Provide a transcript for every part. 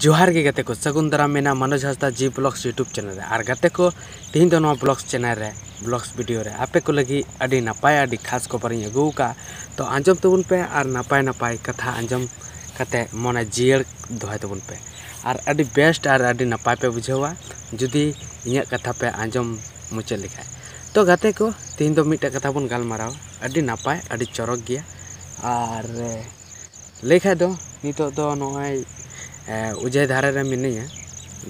ᱡᱚᱦᱟᱨ ᱜᱮ ᱜᱟᱛᱮ ᱠᱚ ᱥᱟᱹᱜᱩᱱ ᱫᱟᱨᱟᱢ ᱢᱮᱱᱟ Manoj Hansda ji blogs YouTube channel ᱨᱮ ᱟᱨ ᱜᱟᱛᱮ ᱠᱚ ᱛᱮᱦᱮᱧ ᱫᱚ ᱱᱚᱣᱟ ᱵᱞᱚᱜᱥ ᱪᱮᱱᱮᱞ ᱨᱮ ᱵᱞᱚᱜᱥ ᱵᱷᱤᱰᱤᱭᱳ ᱨᱮ ᱟᱯᱮ ᱠᱚ ᱞᱟᱹᱜᱤᱫ ᱟᱹᱰᱤ ᱱᱟᱯᱟᱭ ᱟᱹᱰᱤ ᱠᱷᱟᱥ ᱠᱷᱚᱵᱚᱨᱤᱧ ᱟᱹᱜᱩ ᱟᱠᱟᱫᱼᱟ ᱛᱚ ᱟᱸᱡᱚᱢ ᱛᱟᱵᱚᱱ ᱯᱮ ᱟᱨ ᱱᱟᱯᱟᱭ ᱱᱟᱯᱟᱭ ᱠᱟᱛᱷᱟ ᱟᱸᱡᱚᱢ ᱠᱟᱛᱮ ᱢᱚᱱᱮ ᱡᱤᱭᱟᱹᱲ ᱫᱚᱦᱚᱭ ᱛᱟᱵᱚᱱ ᱯᱮ ᱟᱨ ᱟᱹᱰᱤ ᱵᱮᱥᱴ ᱟᱨ ᱟᱹᱰᱤ ᱱᱟᱯᱟᱭ ᱯᱮ ᱵᱩᱡᱷᱟᱹᱣᱟ ᱡᱩᱫᱤ ᱤᱧᱟᱹᱜ ᱠᱟᱛᱷᱟ ᱯᱮ ᱟᱸᱡᱚᱢ ᱢᱩᱪᱟᱹᱫ ᱞᱮᱠᱷᱟᱡ ᱛᱚ ᱜᱟᱛᱮ ᱠᱚ ᱛᱮᱦᱮᱧ ᱫᱚ ᱢᱤᱫᱴᱮᱡ ᱠᱟᱛᱷᱟ ᱵᱚᱱ ᱜᱟᱞᱢᱟᱨᱟᱣᱟ ᱟᱹᱰᱤ ᱱᱟᱯᱟᱭ ᱟᱹᱰᱤ ᱪᱚᱨᱚᱠ ᱜᱮᱭᱟ ᱟᱨ ᱞᱟᱹᱭ ᱠᱷᱟᱡ ᱫᱚ ᱱᱤᱛᱚᱜ ᱫᱚ ᱱᱚᱜᱼᱚᱸᱭ ᱚᱡᱚᱭ ᱫᱷᱟᱨᱮ ᱨᱮ ᱢᱤᱱᱟᱹᱧᱟ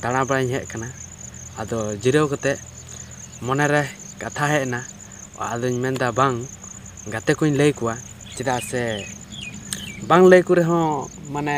ᱫᱟᱬᱟ ᱵᱟᱲᱟᱧ ᱦᱮᱡ ᱠᱟᱱᱟ ᱟᱫᱚ ᱡᱤᱨᱟᱹᱣ ᱠᱟᱛᱮ ᱢᱚᱱᱮ ᱨᱮ ᱠᱟᱛᱷᱟ ᱦᱮᱡ ᱮᱱᱟ ᱟᱫᱚᱧ ᱢᱮᱱᱫᱟ ᱵᱟᱝ ᱜᱟᱛᱮ ᱠᱚᱹᱧ ᱞᱟᱹᱭ ᱠᱚᱣᱟ ᱪᱮᱫᱟᱜ ᱥᱮ ᱵᱟᱝ ᱞᱟᱹᱭ ᱠᱚᱨᱮ ᱦᱚᱸ ᱢᱟᱱᱮ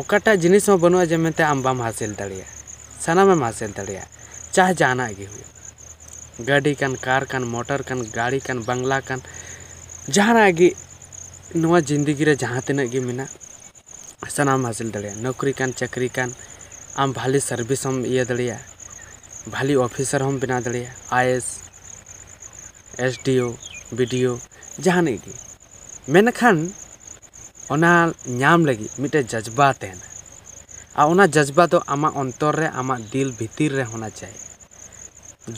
ᱚᱠᱟᱴᱟᱜ ᱡᱤᱱᱤᱥ ᱦᱚᱸ ᱵᱟᱹᱱᱩᱜᱼᱟ ᱡᱮ ᱢᱮᱱᱛᱮ ᱟᱢ ᱵᱟᱢ ᱦᱟᱥᱤᱞ ᱫᱟᱲᱮᱭᱟᱜᱼᱟ ᱥᱟᱱᱟᱢᱮᱢ ᱦᱟᱥᱤᱞ ᱫᱟᱲᱮᱭᱟᱜᱼᱟ ᱪᱟᱦᱮ ᱡᱟᱦᱟᱱᱟᱜ ᱜᱮ ᱦᱩᱭᱩᱜ ᱜᱟᱹᱰᱤ ᱠᱟᱱ ᱠᱟᱨ ᱠᱟᱱ ᱢᱚᱴᱚᱨ ᱠᱟᱱ ᱜᱟᱲᱤ ᱠᱟᱱ ᱵᱟᱝᱞᱟ ᱠᱟᱱ ᱡᱟᱦᱟᱱᱟᱜ ᱜᱮ ᱱᱚᱣᱟ ᱡᱤᱱᱫᱮᱜᱤ ᱨᱮ ᱡᱟᱦᱟᱸ ᱛᱤᱱᱟᱹᱜ ᱜᱮ ᱢᱮᱱᱟᱜ ᱥᱟᱱᱟᱢᱮᱢ ᱦᱟᱥᱤᱞ ᱫᱟᱲᱮᱭᱟᱜᱼᱟ ᱱᱩᱠᱨᱤ ᱠᱟᱱ ᱪᱟᱠᱨᱤ ᱠᱟᱱ ᱟᱢ ᱵᱷᱟᱞᱮ ᱥᱟᱨᱵᱷᱤᱥ ᱦᱚᱸᱢ ᱤᱭᱟᱹ ᱫᱟᱲᱮᱭᱟᱜᱼᱟ ᱵᱷᱟᱞᱮ ᱚᱯᱷᱤᱥᱟᱨ ᱦᱚᱸᱢ ᱵᱮᱱᱟᱣ ᱫᱟᱲᱮᱭᱟᱜᱼᱟ I A S S D O B D O ᱡᱟᱦᱟᱱᱤᱡ ᱜᱮ ᱢᱮᱱᱠᱷᱟᱱ ᱚᱱᱟ ᱧᱟᱢ ᱞᱟᱹᱜᱤᱫ ᱢᱤᱫᱴᱮᱱ ᱡᱟᱡᱽᱵᱟ ᱛᱟᱦᱮᱱᱟ ᱟᱨ ᱚᱱᱟ ᱡᱟᱡᱽᱵᱟ ᱫᱚ ᱟᱢᱟᱜ ᱚᱱᱛᱚᱨ ᱨᱮ ᱟᱢᱟᱜ ᱫᱤᱞ ᱵᱷᱤᱛᱤᱨ ᱨᱮ ᱦᱳᱱᱟ ᱪᱟᱭᱮ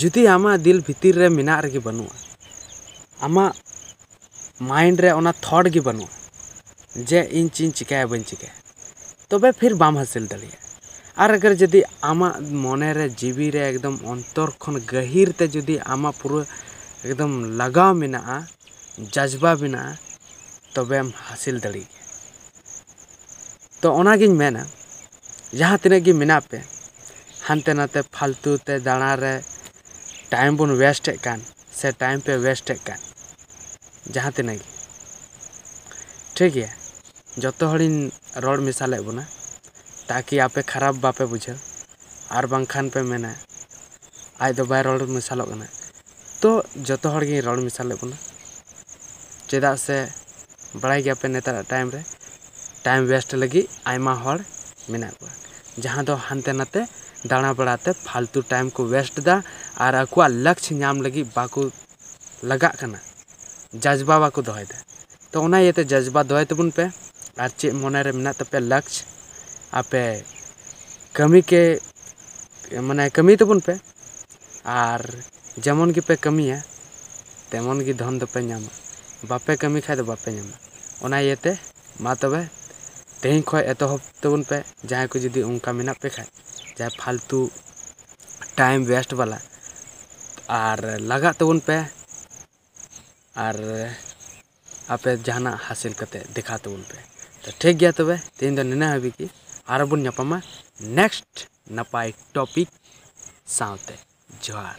ᱡᱩᱫᱤ ᱟᱢᱟᱜ ᱫᱤᱞ ᱵᱷᱤᱛᱤᱨ ᱨᱮ ᱢᱮᱱᱟᱜ ᱨᱮᱜᱮ ᱵᱟᱹᱱᱩᱜᱼᱟ ᱟᱢᱟᱜ ᱢᱟᱭᱤᱱᱰ ᱨᱮ ᱚᱱᱟ ᱛᱷᱚᱴ ᱜᱮ ᱵᱟᱹᱱᱩᱜᱼᱟ ᱡᱮ ᱤᱧ ᱪᱮᱫ ᱤᱧ ᱪᱤᱠᱟᱹᱭᱟ ᱵᱟᱹᱧ ᱪᱤᱠᱟᱹᱭᱟ ᱛᱚᱵᱮ ᱯᱷᱤᱨ ᱵᱟᱢ ᱦᱟᱹᱥᱤᱞ ᱫᱟᱲᱮᱭᱟᱜᱼᱟ ᱟᱨ ᱟᱜᱟᱨ ᱡᱩᱫᱤ ᱟᱢᱟᱜ ᱢᱚᱱᱮ ᱨᱮ ᱡᱤᱣᱤ ᱨᱮ ᱮᱠᱫᱚᱢ ᱚᱱᱛᱚᱨ ᱠᱷᱚᱱ ᱜᱟᱹᱦᱤᱨ ᱛᱮ ᱡᱩᱫᱤ ᱟᱢᱟᱜ ᱯᱩᱨᱟᱹ ᱮᱠᱫᱚᱢ ᱞᱟᱜᱟᱣ ᱢᱮᱱᱟᱜᱼᱟ ᱡᱟᱡᱽᱵᱟ ᱢᱮᱱᱟᱜᱼᱟ ᱛᱚᱵᱮᱢ ᱦᱟᱹᱥᱤᱞ ᱫᱟᱲᱮᱭᱟᱜ ᱜᱮᱭᱟ ᱛᱚ ᱚᱱᱟ ᱜᱤᱧ ᱢᱮᱱᱟ ᱡᱟᱦᱟᱸ ᱛᱤᱱᱟᱹᱜ ᱜᱮ ᱢᱮᱱᱟᱜ ᱯᱮ ᱦᱟᱱᱛᱮ ᱱᱟᱛᱮ ᱯᱷᱟᱞᱛᱩ ᱛᱮ ᱫᱟᱬᱟ ᱨᱮ ᱴᱟᱭᱤᱢ ᱵᱚᱱ ᱚᱭᱮᱥᱴᱮᱫ ᱠᱟᱱ ᱥᱮ ᱴᱟᱭᱤᱢ ᱯᱮ ᱚᱭᱮᱥᱴᱮᱫ ᱠᱟᱱ ᱡᱟᱦᱟᱸ ᱛᱤᱱᱟᱹᱜ ᱜᱮ ᱴᱷᱤᱠ ᱜᱮᱭᱟ ᱡᱚᱛᱚ ᱦᱚᱲᱤᱧ ᱨᱚᱲ ᱢᱮᱥᱟ ᱞᱮᱫ ᱵᱚᱱᱟ ᱛᱟᱠᱤ ᱟᱯᱮ ᱠᱷᱟᱨᱟᱯ ᱵᱟᱯᱮ ᱵᱩᱡᱷᱟᱹᱣ ᱟᱨ ᱵᱟᱝᱠᱷᱟᱱ ᱯᱮ ᱢᱮᱱᱟ ᱟᱡ ᱫᱚ ᱵᱟᱭ ᱨᱚᱲ ᱢᱮᱥᱟᱞᱚᱜ ᱠᱟᱱᱟ ᱛᱚ ᱡᱚᱛᱚ ᱦᱚᱲ ᱜᱤᱧ ᱨᱚᱲ ᱢᱮᱥᱟ ᱞᱮᱫ ᱵᱚᱱᱟ ᱪᱮᱫᱟᱜ ᱥᱮ ᱵᱟᱲᱟᱭ ᱜᱮᱭᱟᱯᱮ ᱱᱮᱛᱟᱨᱟᱜ ᱴᱟᱭᱤᱢ ᱨᱮ ᱴᱟᱭᱤᱢ ᱚᱭᱮᱥᱴ ᱞᱟᱹᱜᱤᱫ ᱟᱭᱢᱟ ᱦᱚᱲ ᱢᱮᱱᱟᱜ ᱠᱚᱣᱟ ᱡᱟᱦᱟᱸ ᱫᱚ ᱦᱟᱱᱛᱮ ᱱᱟᱛᱮ ᱫᱟᱬᱟ ᱵᱟᱲᱟ ᱛᱮ ᱯᱷᱟᱞᱛᱩ ᱴᱟᱭᱤᱢ ᱠᱚ ᱚᱭᱮᱥᱴ ᱮᱫᱟ ᱟᱨ ᱟᱠᱚᱣᱟᱜ ᱞᱚᱠᱠᱷᱚ ᱧᱟᱢ ᱞᱟᱹᱜᱤᱫ ᱵᱟᱠᱚ ᱞᱟᱜᱟᱜ ᱠᱟᱱᱟ ᱡᱟᱡᱽᱵᱟ ᱵᱟᱠᱚ ᱫᱚᱦᱚᱭᱮᱫᱟ ᱛᱚ ᱚᱱᱟ ᱤᱭᱟᱹᱛᱮ ᱡᱟᱡᱽᱵᱟ ᱫᱚᱦᱚᱭ ᱛᱟᱵᱚᱱ ᱯᱮ ᱟᱨ ᱪᱮᱫ ᱢᱚᱱᱮ ᱨᱮ ᱢᱮᱱᱟᱜ ᱛᱟᱯᱮᱭᱟ ᱞᱚᱠᱠᱷᱚ ᱟᱯᱮ ᱠᱟᱹᱢᱤ ᱠᱮ ᱢᱟᱱᱮ ᱠᱟᱹᱢᱤ ᱛᱟᱵᱚᱱ ᱯᱮ ᱟᱨ ᱡᱮᱢᱚᱱ ᱜᱮᱯᱮ ᱠᱟᱹᱢᱤᱭᱟ ᱛᱮᱢᱚᱱ ᱜᱮ ᱫᱷᱚᱱ ᱫᱚᱯᱮ ᱧᱟᱢᱟ ᱵᱟᱯᱮ ᱠᱟᱹᱢᱤ ᱠᱷᱟᱱ ᱫᱚ ᱵᱟᱯᱮ ᱧᱟᱢᱟ ᱚᱱᱟ ᱤᱭᱟᱹᱛᱮ ᱢᱟ ᱛᱚᱵᱮ ᱛᱮᱦᱮᱧ ᱠᱷᱚᱱ ᱮᱛᱚᱦᱚᱵ ᱛᱟᱵᱚᱱ ᱯᱮ ᱡᱟᱦᱟᱸᱭ ᱠᱚ ᱡᱩᱫᱤ ᱚᱱᱠᱟ ᱢᱮᱱᱟᱜ ᱯᱮ ᱠᱷᱟᱱ ᱡᱟᱦᱟᱸ ᱯᱷᱟᱞᱛᱩ ᱴᱟᱭᱤᱢ ᱚᱭᱮᱥᱴ ᱵᱟᱞᱟ ᱟᱨ ᱞᱟᱜᱟᱜ ᱛᱟᱵᱚᱱ ᱯᱮ ᱟᱨ ᱟᱯᱮ ᱡᱟᱦᱟᱱᱟᱜ ᱦᱟᱥᱤᱞ ᱠᱟᱛᱮ ᱫᱮᱠᱷᱟᱣ ᱛᱟᱵᱚᱱ ᱯᱮ ᱛᱚ ᱴᱷᱤᱠ ᱜᱮᱭᱟ ᱛᱚᱵᱮ ᱛᱮᱦᱮᱧ ᱫᱚ ᱱᱤᱱᱟᱹᱜ ᱦᱟᱹᱵᱤᱡ ᱜᱮ ᱟᱨᱚ ᱵᱚᱱ ᱧᱟᱯᱟᱢᱟ ᱱᱮᱠᱥᱴ ᱱᱟᱯᱟᱭ ᱴᱚᱯᱤᱠ ᱥᱟᱶᱛᱮ ᱡᱚᱦᱟᱨ